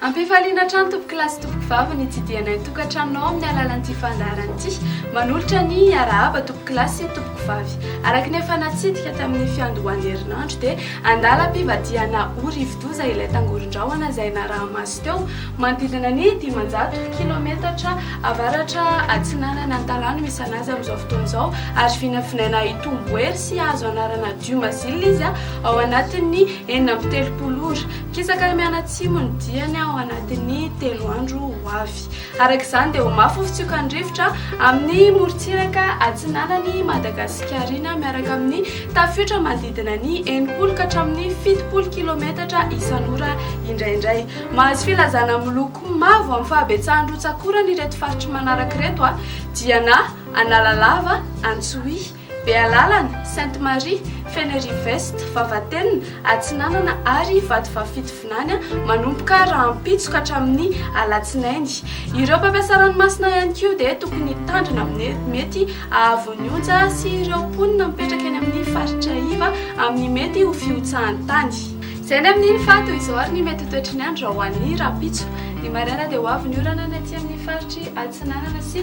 Ampifaliana hatrany tompoko lahy sy tompoko vavy ny hitsidihanay ny tokantranonao amin'ny alalan'ity fandaharana ity. Manolotra ny arahaba tompoko lahy sy tompoko vavy. Araka ny efa natsidika tamin'ny fiandohan'ny herinandro dia andalam-pivadihana ho rivodoza ilay tangoron-drahona izay naraha-maso. teo, manodidina ny dimanjato kilaometatra avaratra atsinanana Antalano misy anazy amin'izao fotoana izao, ary vinavinaina hitombo hery sy hahazo anarana Diu Mazil izy ao anatin'ny enina amby telopolo ora. Mikisaka mianatsimo ny diany ao anatin'ny telo andro ho avy. Araka izany dia ho mafy ny fitsiokan'ny rivotra amin'ny morontsiraka atsinanan'i Madagasikarinà miaraka amin'ny tafiotra manodidina ny enimpolo ka hatramin'ny fitopolo kilometatra isan'ora indraindray. Mahazo filazana miloko mavo amin'ny fahabetsahan'ny rotsak'orana ireto faritry manaraka ireto dia na Analalava, Antsohihy, Bealalana, Sainte Marie, Fenerive-Est, Vavatenina, Atsinanana ary Vatovavy-Fitovinany manomboka rahampitso ka hatramin'ny alatsinainy. Ireo mpampiasa ranomasina ihany koa dia tokony hitandrina amin'ny mety hahavy ny onja sy ireo mponina mipetraka eny amin'ny faritra iva amin'ny mety ho fihotsahan'ny tany. Izay ny amin'iny fa toy izao ary ny mety ho toetry ny andro raha ho an'ny rahampitso. Ny maraina dia ho avy ny orana ny aty amin'ny faritry Atsinanana sy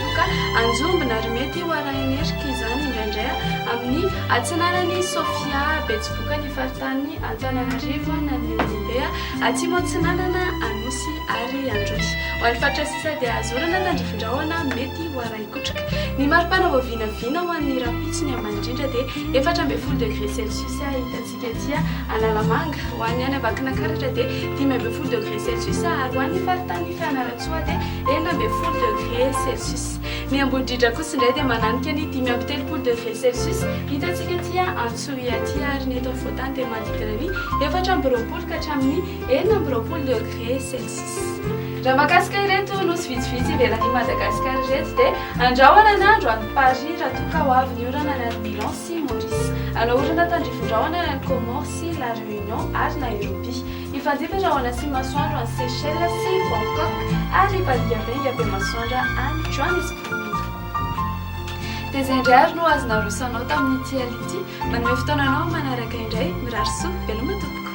Loka, Anjombona, ary mety ho arahin'erika izany indraindray amin'ny atsinanan'i Sofia, betsibokan'ny faritanin'i Antananarivo na ny Anjombe, atsimo atsinanana, Anosy ary Androy. Ho an'ny faritra sisa dia Azorana, Tandrifindrahona, mety ho arahikotroka. Ny mari-pana vao vinavina ho an'ny rahampitso ny ambany indrindra dia efatra ambin'ny folo degre celsius hitantsika. Tety Analamanga, ho an'ny any Ambakinakaratra dia dimy ambin'ny folo degré celsius ary ho an'ny faritanin'i Fianarantsoa dia enina ambin'ny folo degré celsius. Ny Ambohidridra kosa indray dia mananika ny dimy amby telopolo degré celsius hitantsika aty Antsohihy aty ary ny eto afovoan-tany dia manodidina ny efatra amby roapolo ka hatramin'ny enina amby roapolo degré celsius. Raha mahakasika ireto nosy vitsivitsy ivelan'i Madagasikara ireto dia andrahona ny andro any Paris raha toa ka ho avy ny orana any Milans. sy Maurice. Anaorana tandrifin-drahona any amin'ny Comores sy La Réunion ary Nairobi. Hifandimby rahona sy masoandro any Seychelles sy Bangkok ary hibandiabenga be masoandra any Johannesburg. Dia izay indray ary no azo naroso anao tamin'ity alina ity. Manome fotoana anao amin'ny manaraka indray. Mirary soa. Veloma tompoko.